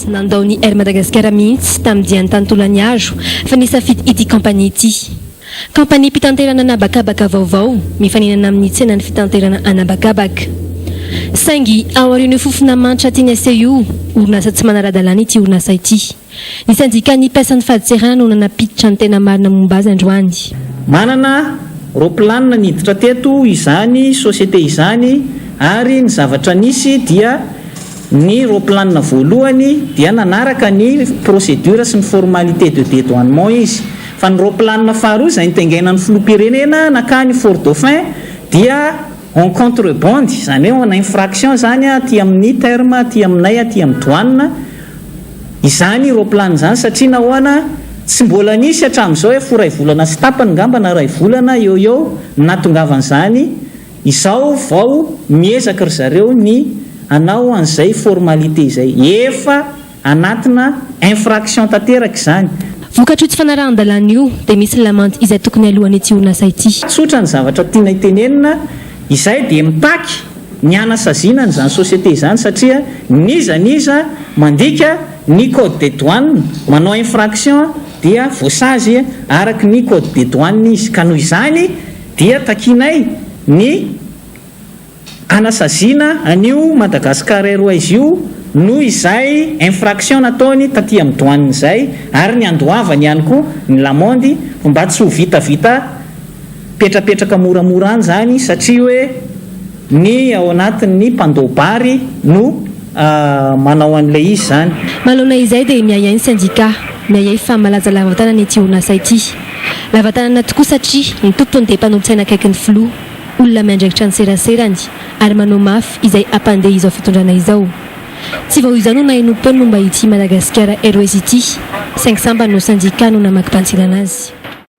nandao ny Air Madagascar mihitsy tamin'ny dian'ny tany Tolaniaro fa nisafidy ity kampania ity. Kampaniam-pitanterana anabakabaka vaovao mifaninana amin'ny tsenan'ny fitanterana anabakabaka. Saingy aorian'io fofona manitra tiany aseho io, orinasa tsy manara-dalàna ity orinasa ity. Ny sendikan'ny mpiasan'ny fadintserana no nanampiditra ny tena marina momba azy androany. Manana ropilanina niditra teto izany société izany ary ny zavatra nisy dia ny ropilanina voalohany dia nanaraka ny procédure sy ny formalité de dédouanement izy fa ny ropilanina faharoa izay nitaingainan'ny filoham-pirenena nankany Fort Dauphin dia en contrebande izany hoe en infraction izany aty amin'ny terme aty aminay aty amin'ny douane izany roplan izany satria nahoana tsy mbola nisy hatramin'izao ef ho iray volana sy tapany ngamba na iray volana eo eo ny nahatongavan'izany izao vao miezaka ry zareo ny hanao an'izay formalités izay efa anatina infraction tanteraka izany. Vokatr' io tsy fanarahan-dalàna io dia misy ny lamandy izay tokony alohan' ity orinasa ity. Tsotra ny zavatra tiana hitenenina. Izahay dia mitaky ny hanasaziana an'izany société izany satria n'iza n'iza mandika ny code des douanes, manao infraction dia voasazy araka ny code des douanes izy ka noho izany dia takianay ny hanasaziana an'io Madagascar Airways io noho izay infraction nataony taty amin'ny douanes izay ary ny handoavany ihany koa ny lamondy mba tsy ho vitavita Petrapetraka moramora any izany satria hoe ny ao anatiny ny mpandoa bary no manao an'ilay izy izany. Manoloana izay dia miahiahy ny sendika miahiahy fa malaza lava tanana ity orinasa ity. Lava tanana tokoa satria ny tompony dia mpanolotsaina akaiky ny filoha, olona miandraikitra ny seraserany ary manao mafy izay hampandeha izao fitondrana izao. Tsy vao izao no nahay nompoana momba ity Madagascar Airways ity saingy sambany ho sendika no namakim-panitsiana anazy.